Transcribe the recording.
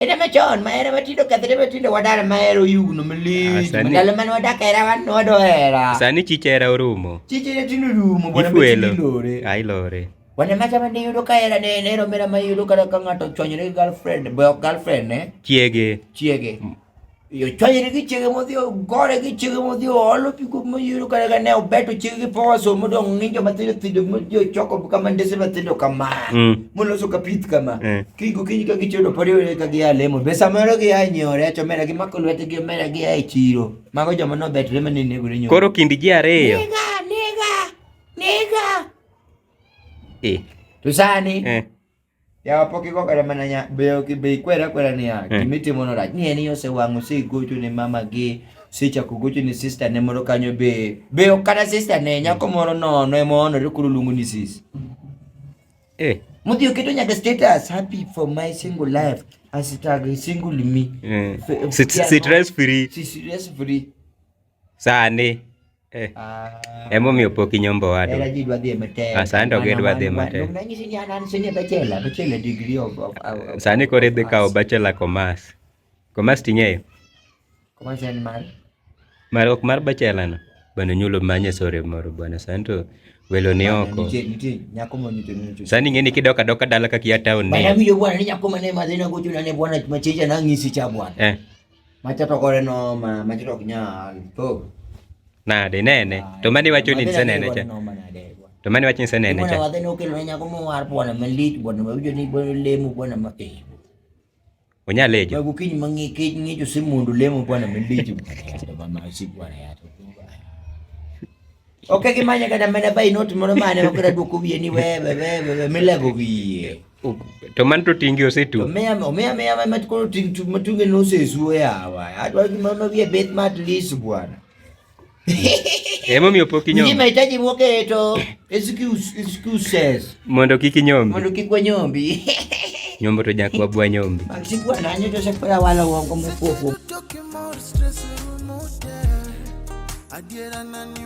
Era machon ma era matindo kethre matindo wadar ma era oyugno malich. Ah, Ndalo mane wadak era wan wado era. Sani chicha era orumo. Chicha era tino rumo bwana machini lore. Ai lore. Wana macha mane yudo ka era ne ne romera ma yudo ka ka ng'ato chonyre girlfriend, boy girlfriend ne. Chiege. Chiege. iyo chwanyiri kichege modhio gore kichege modhio olo pigo moyuro kare kane obeto chege gi power so modo nginjo mathindo thindo modio choko kama ndese mathindo kama mm. moloso ka pith kama mm. kigo kinyi ka gichodo podi wele ka gi alemo be samoro gi ya nyore to mera gi mako lwete gi mera gi ya chiro mago joma no bet rema ni nego nyoro koro kindi ji ariyo nega nega nega eh to sani eh Japo kiko kata mana nya beyo ki be kwera kwera ni ya eh. kimiti mono rach ni eni ose wangu si gocho ni mama gi si chako gocho ni sister ne moro kanyo be be kata sister ne nyako moro no no emo no rikuru lungu ni sis eh mudi okito nyaka status happy for my single life as it single me eh. sit sit rest free sit rest free Sani. Eh. Ah. Emo mi opok inyombo wadu. Era ji dwa dhi e matek. Ah, sani to gidwa dhi e matek. Nung nanyisi ni an an sini bachelor, bachelor degree of, of, of Sani kore dhi kawo bachelor commerce. Commerce ting'eyo? Commerce en mar? Mar ok mar bachelor no. Bano nyulo manye sore moro bwana sani to welo ni oko sani ng'eni kidok adoka dala kakia town ni bwana winjo bwana ni nyako mane madhina gochuna ne bwana machicha nang'isi cha bwana eh. Macha to kore no ma macha to ok nyal to nade nene to mane wacho ni nise nene cha to mane wacho nise nene cha wadhi nokelo ne nyako mowar bwana malit bwana mawinjo ni bwana lemo bwana ma eh onya lejo babu kiny mangi kiny ngijo simundu lemo bwana malit bwana ma sik bwana ya to Ok gimanya kata mana by note moro mane ok daduoko wiye ni wewe wewe milego wiye. To man to tingi osetu. To mea mea mea mea mat kono ting tu matunge no se suwe awa. Atwa ki mama wiye bet mat lis bwana. Emo mi opoki nyom. Ni mahitaji mwoke to excuse excuses. Mondo kiki nyombi. Mondo kikwa nyombi. nyombo to jakwa bwa nyombi. Maxi bwana anyo to se kwa wala wongo mkoko. Adiera nani